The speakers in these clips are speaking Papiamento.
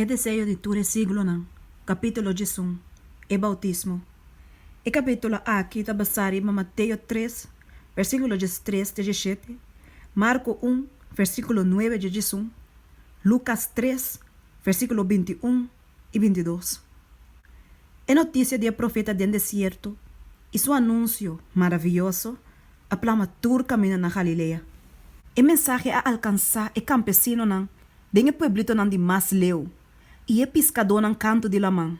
E deseo di tur e siglonan, Capítulo Djesun, e bautismo. E capítulo aki ta basá riba Mateo tres, versículo djestres te djeshete, Marco un, versículo nuebe dje djesun, Lucas tres, versículo binti un i binti dos. E notisia di e profeta den desierto i su anunsio maravioso a plama tur camino na Galilea. E mensahe a alcansá e campesinonan den e pueblitonan di mas leu, i e piskadónan kantu di laman.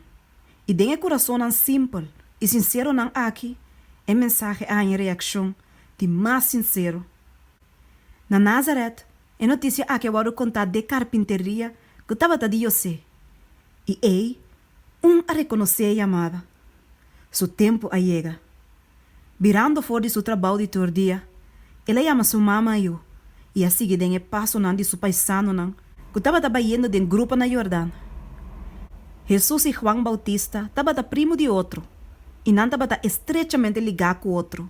I den e kurasonnan simpel i sinseronan aki e mensahe a haña reakshon di mas sinsero. Na Nazaret, e notisia aki a wòrdu kontá dje karpinteria ku tabata di José, i ei Un a rekonosé e yamada. Su tempu a yega. Birando for di su trabou di tur dia, el a yama su mama yu i a sigui den e pasonan di su paisanonan ku tabata bayendo den grupo na Yordan. Hesus i Huan Boutista tabata primu di otro i nan tabata estrechamente ligá ku otro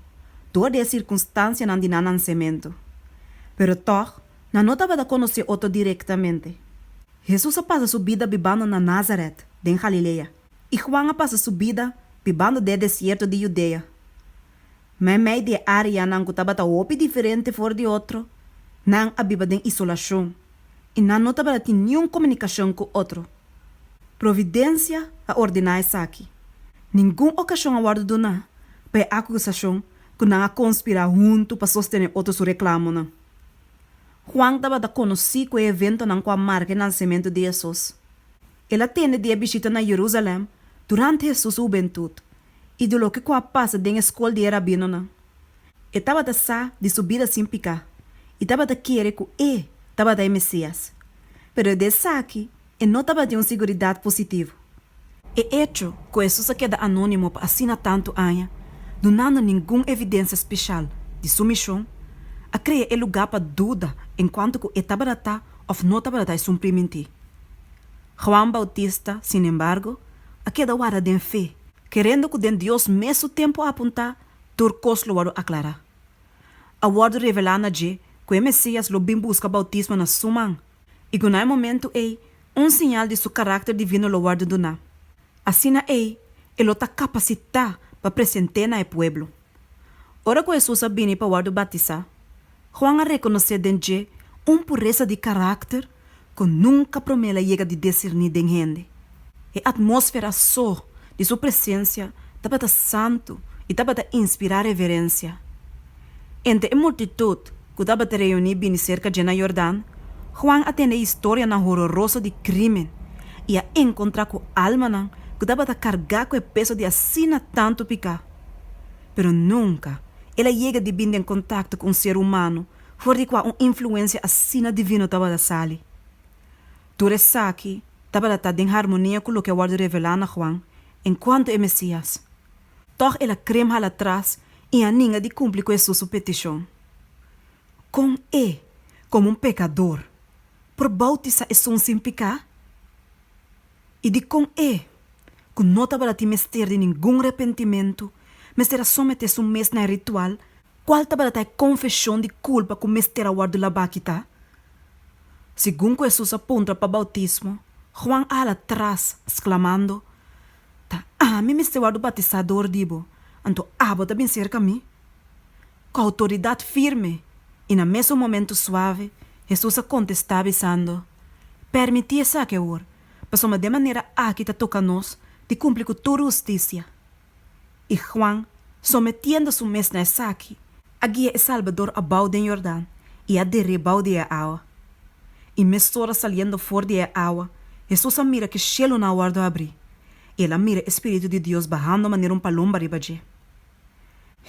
dor di e sirkunstansianan di nan nansementu. Pero tòg, Nan no tabata konosé otro direktamente. Hesus a pasa su bida bibando na Nazaret, den Galilea, i Huan a pasa su bida bibando den e desierto di Yudea. Ma e mei di e áreanan ku tabata hopi diferente for di otro, nan a biba den isolashon i nan no tabata tin niun komunikashon ku otro. Providensia a ordená esaki. Ningun okashon a wòrdu duná pa e akusashon ku nan a konspirá huntu pa sostené otro su reklamonan. Juan tabata conoci cu e eventonan cu a marca e nancemento di Hesus. El a tende di e bishita na Jerusalem durante Hesus hubentud y di loke cu a pasa den e scol di e rabinonan. E tabata sa di su bida sin pica y tabata kere cu e tabata e Mesias. Pero e de esaki e no tabata di un siguridat positivo. E hecho ku Hesus a keda anónimo pa asina tantu aña, dunando ningun evidensia speshal di su mishon, a krea e lugá pa duda en kuanto ku e tabata ta òf no tabata ta esun primintí. Juan Bautista, sinembargo, a keda wara den fe, kerendo ku den Dios mes su tempu apuntá tur kos lo wòrdu aklará. A wòrdu revelá na dje ku e Mesías lo bin buska bautismo na su man, I ku na e momentu ei un siñal di su karakter divino lo wòrdu duná. Asina ei e lo ta kapasitá pa present'é na e pueblo. Ora ku Hesus a bini pa wòrdu batisá, Juan a rekonosé den dje un puresa di karakter ku nunka promé el a yega di disirní den hende. E atmósfera so di su presensia tabata santu i tabata inspirá reverensia. Entre e multitut ku tabata reuní bini serka dje na Yordan, Juan a tende historianan hororoso di krímen i a enkontrá ku almanan ku tabata kargá ku e peso di asina tantu piká. Pero nunka el a yega di bin den kontakto ku un ser umano for di kua un influensia asina divino tabata sali. Tur esaki tabata ta den harmonia ku loke a wòrdu revelá na Juan enkuantu e Mesías. Tòg el a krem hala tras i a ninga di kumpli ku Hesus su petishon. Kon E, komo un pekador, por boutisá esun sin piká? I dikon E, ku no tabalatin mester di ningun repentimentu, mester a someté su mes na e ritual? Kual tabalatá e konfeshon di kulpa ku mester a wòrdu labá kitá? Segun ku Hesus a puntra pa boutismo, Huan a hala tras, sklamando, Ta ami mester wòrdu bautisá dor di bo, anto abo ta bin serka mi? Ku outoridat firme i na mes un momentu suave, Hesus a kontestá bisando, Pèrmití esaki awor, pasobra den manera aki ta toka nos di kumpli ku tur hustisia. I Juan, sometiendo su mes na esaki, a guia e Salbador abou den Yordan i a der'é bou di e awa. I mesora saliendo for di e awa, Hesus a mira ku shielunan a wòrdu abrí, i el a mira e Spiritu di Dios bahando manera un palomba riba dje.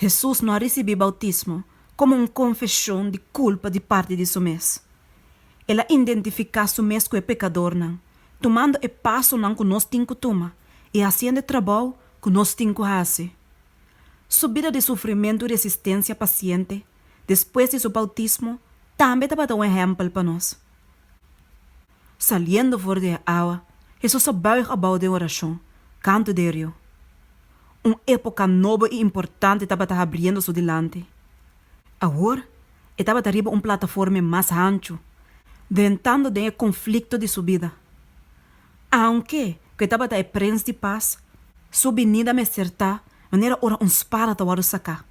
Hesus no a risibí boutismo komo un konfeshon di kulpa di parti di su mes. El a indentifiká su mes ku e pekadornan, tumando e pasonan ku nos tin ku tuma i hasiendo e trabou ku nos tin ku hasi. Su bida di sufrimentu i resistensia pasiente despues di su boutismo tambe tabata un ehèmpel pa nos. Saliendo for di e awa, Hesus a bùig abou den orashon, kantu di e riu. Un époka nobo i importante tabata habriendo su dilanti. Awor, e tabata riba un plataforma mas hanchu, drentando den e konflikto di su bida. Aunke ku e tabata e Prins di Pas, su binida mester ta manera ora un spada ta wòrdu saká.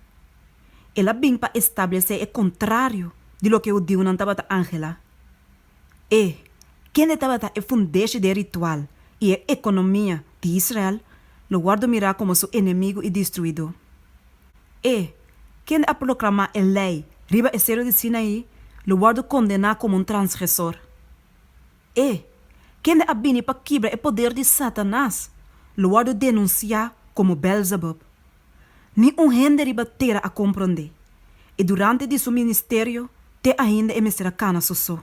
El a bin pa establesé e kontrario di loke hudiunan tabata anhelá. E kende tabata e fundeshi di e ritual i e ekonomia di Israel lo wòrdu mirá komo su enemigu i destruidó. E kende a proklamá e Lei riba e Seru di Sinaí lo wòrdu kondená komo un transgresor. E kende a bini pa kibra e poder di Satanas lo wòrdu denunsiá komo Bèlzebub. Ni un hende riba tera a komprondé e durante di su ministerio te ainda e mester a kana su so.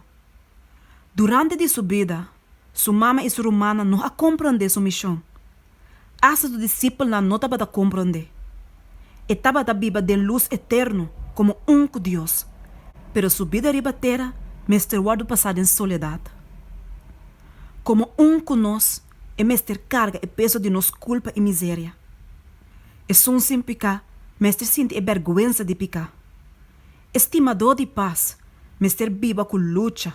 Durante di su bida, su mama i su rumannan no a komprondé su mishon. Asta su disipelnan no tabata komprondé. E tabata biba den lus eterno komo ún ku Dios, pero su bida riba tera mester wòrdu pasá den soledat. Komo ún ku nos, e mester karga e peso di nos kulpa i miseria. Esun sin piká mester sinti e bèrgwensa di piká. E stimadó di pas mester biba ku lucha.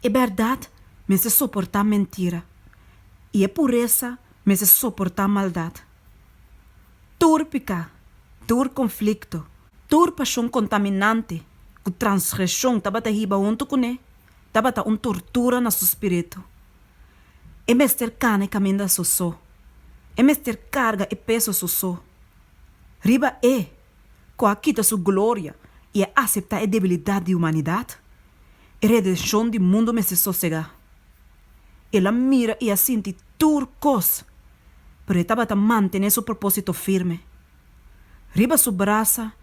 E bèrdat mester soportá mentira, i e puresa mester soportá maldat. Tur piká, tur konflikto, tur pashon kontaminante ku transgreshon tabata hiba huntu kuné. tabata un tortura na su spiritu. E mester kana e kaminda sosó. E mester karga e peso sosó. Riba E ku a kita su gloria i a aseptá e debilidat di humanidat, e redenshon di mundu mester sosegá. El a mira i a sinti tur kos, pero e tabata mantené su propósito firme. Riba su brasa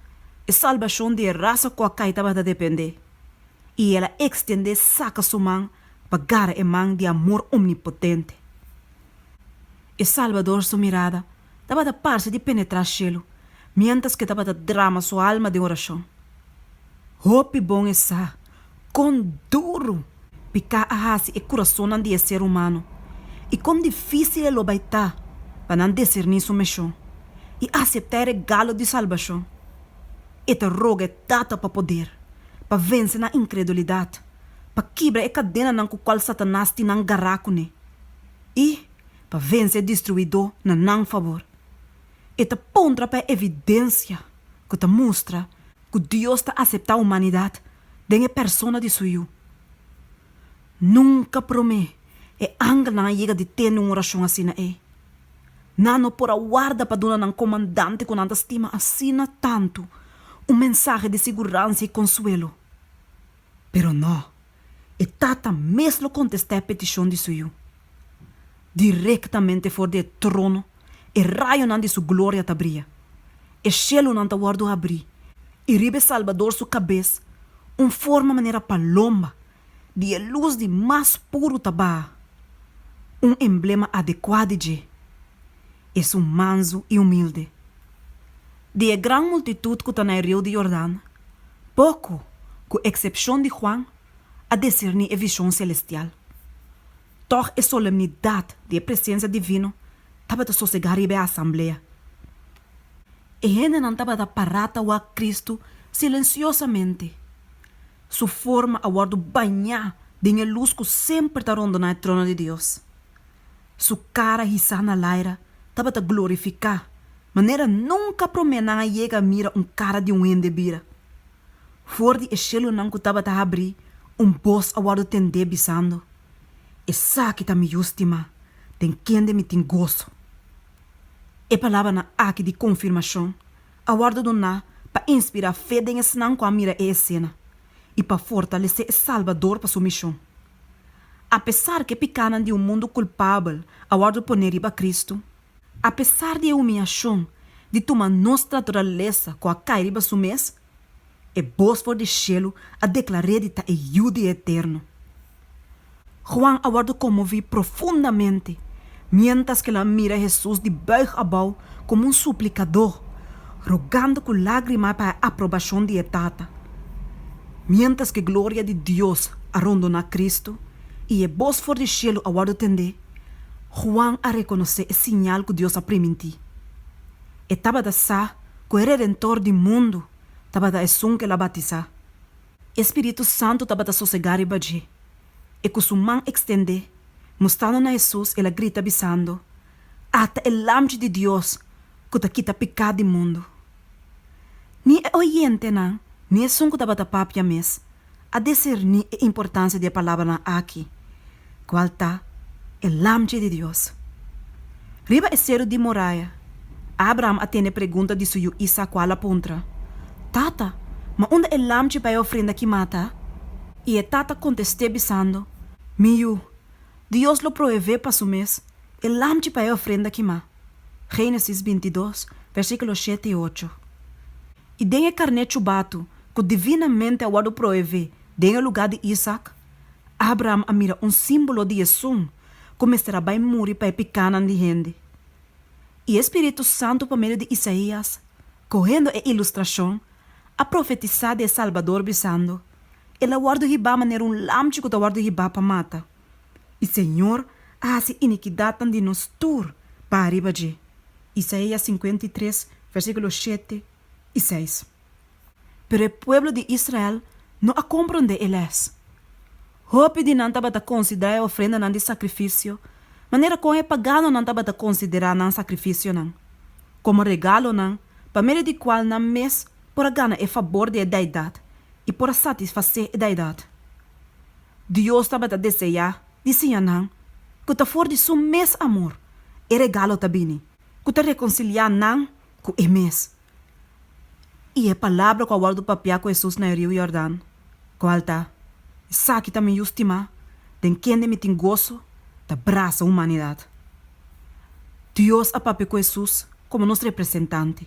e salbashon di e rasa ku a kai tabata dependé. i el a ekstendé saka su man pa gara e man di amor omnipotente. E Salbador su mirada tabata parse di penetrá shelu miéntras ku e tabata drama su alma den orashon. Hopi bon e sa kon duru piká a hasi e kurasonnan di e ser humano i kon difísil e lo bai ta pa nan deserní su mishon i aseptá e regalo di salbashon. E ta roga e Tata pa poder, pa vense nan inkredulidat, pa kibra e kadenanan ku kual Satanas tin nan gará kuné, i pa vense e Distruidó na nan fabor. E ta puntra pa e evidensia ku ta mustra ku Dios ta aseptá humanidat den e persona di su Yu. Nunka promé e angelnan a yega di tende un orashon asina ei. Nan no por a warda pa duna nan komandante ku nan ta stima asina tantu un mensahe di siguransia i konsuelo. Pero no, e tata mes lo kontestá e petishon di su yu. Direktamente for di e trono e rayonan di su gloria ta bria, e shelunan ta wòrdu abrí i riba e Salbador su kabes un forma manera palomba di e lus di mas puru ta baha. Un emblema adekuá di dje esun mansu i humilde. Di e gran multitut ku ta na e riu di Yordan, poko, ku eksepshon di Juan, a diserní e vishon selestial. Tòg e solemnidat di e presensia divino tabata sosegá riba e asamblea. E hendenan tabata pará ta wak Kristu silensiosamente. Su forma a wòrdu bañá den e lus ku semper ta rondoná e trono di Dios. Su kara hisá na laira tabata glorifiká, manera nunka promé nan a yega a mira un kara di un hende bira. For di e shelunan ku tabata habrí, un bos a wòrdu tendé bisando, Esaki ta mi Yu stimá, den kende mi tin goso. E palabranan aki di konfirmashon a wòrdu doná pa inspirá fe den esnan ku a mira e esena i pa fortalesé e Salbador pa su mishon. Apesar ku e pikánan di un mundu kulpabel a wòrdu poné riba Kristu, apesar di e humiashon di tuma nos traturalesa ku a kai riba su mes, E bos for di shelu a deklar'é di ta e Yu di e Eterno. Juan a wòrdu konmoví profundamente miéntras ke lo a mira Hesus di bùig abou komo un suplikadó, rogando ku lágrima pa e aprobashon di e Tata. Miéntras ke gloria di Dios a rondoná Kristu i e bos for di shelu a wòrdu tendé, Juan a rekonosé e siñal ku Dios a primintí. E tabata sa ku e Redentor di mundu. tabata esun ku el a batisá. E spiritu santu tabata sosegá riba dje. I ku su man ekstendé, mustrando na Hesus, el a grita bisando, A ta e Lamchi di Dios ku ta kita piká di mundu! Ni e oyentenan ni esun ku tabata papia mes a diserní e importansia di e palabranan aki, kual ta e lamchi di Dios. Riba e seru di moraya, Abraham a tene pregunta di su yu Isak kual a puntra, Tata, ma unda e lamchi pa e ofrenda kimá ta? I e tata kontest'é bisando, Mi yu, Dios lo proevé pa su mes e lamchi pa e ofrenda kimá. Génesis bintidos, versíkulo shete i ocho. I den e karné chubatu ku divinamente a wòrdu proevé den e lugá di Isak, Abraham a mira un símbolo di e sun ku mester a bai muri pa e pikánan di hende. I e spiritu santu pa medio di Isaías, kohendo e ilustrashon, a profetisá di e Salbador bisando, El a wòrdu hibá manera un lamchi ku ta wòrdu hibá pa mata. i Señor a hasi inikidatnan di nos tur pa ariba dje. Isaia sinkuenta i tres, versíkulo shete i seis. Pero e pueblo di Israel no a komprondé e lès. Hopi di nan tabata konsiderá e ofrendanan di sakrifisio manera kon e paganonan tabata konsiderá nan sakrifisionan, komo regalonan pa medio di kual nan mes por a gana e fabor di e deidat i por a satisfasé e deidat. Dios tabata deseá di siña nan ku ta for di su mes amor e regalo ta bini ku ta rekonsiliá nan ku E mes. I e palabra ku a wòrdu papiá ku Hesus na e riu Yordan, kual ta, Esaki ta mi Yu stimá, den kende mi tin goso, ta brasa humanidat. Dios a papia ku Hesus Komo nos representante,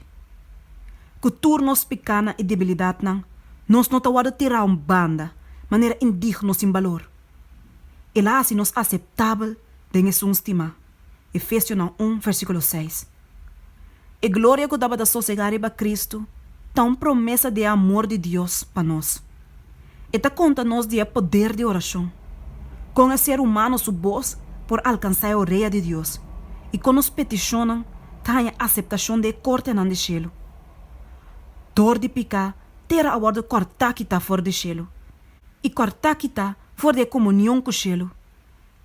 ku tur nos pikanan i debilidatnan, nos no ta wòrdu tirá un banda manera indigno sin balor. El a hasi nos aseptabel den Esun stimá, Efesionan un, versíkulo seis. E gloria ku tabata sosegá riba Kristu ta un promesa di e amor di Dios pa nos. E ta konta nos di e poder di orashon, kon e ser humano su bos por alkansá e orea di Dios i kon nos petishonnan ta haña aseptashon di e kortenan di shelu. Dor di piká, tera a wòrdu kòrtá kitá for di shelu, i kòrtá kitá for di e komunion ku shelu.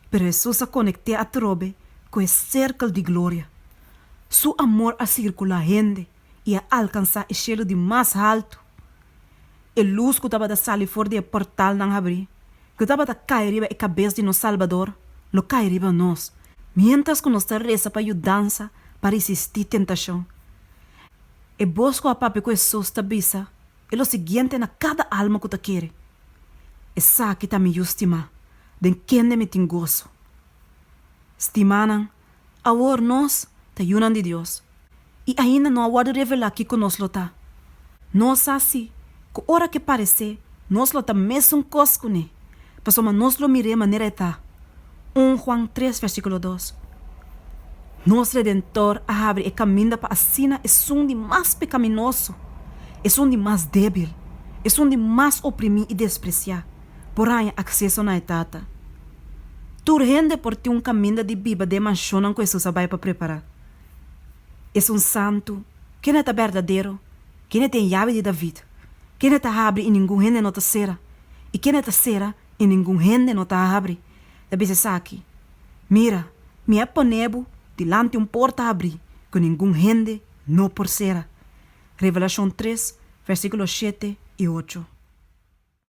Pero Hesus a konekt'é atrobe ku e serkel di gloria. Su amor a sirkulá hende. i a alkansá e shelu di mas haltu. E lus ku tabata sali for di e pòrtalnan habrí, ku tabata kai riba e kabes di nos Salbador, lo kai riba nos, miéntras ku nos ta resa pa yudansa pa risistí tentashon. E bos ku a papia ku Hesus ta bisa e lo siguiente na kada alma ku ta kere, Esaki ta mi Yu stimá, den kende mi tin goso. Stimánan, Awor nos ta yunan di Dios i ainda no a wòrdu revelá kiko nos lo ta. Nos sa sí ku ora ke paresé nos lo ta mesun kos kuné, pasobra nos lo mir'é manera e ta. Un Juan tres versíkulo dos. Nos Redentor a habri e kaminda pa asina esun di mas pekaminoso, esun di mas débil, esun di mas oprimí i despresiá, por haña akseso na e Tata. Tur hende por tin un kaminda di biba den e manshonnan ku Hesus a bai pa prepará. Esun santu, ken'e ta berdadero, ken'e tin e yabi di David, ken'e ta habri i ningun hende no ta sera, i ken'e ta sera i ningun hende no ta habri, ta bisa esaki, Mira, mi a pon'é bo dilanti un porta habrí ku ningun hende no por sera. Revelashon tres, vèrsikulo shete i ocho.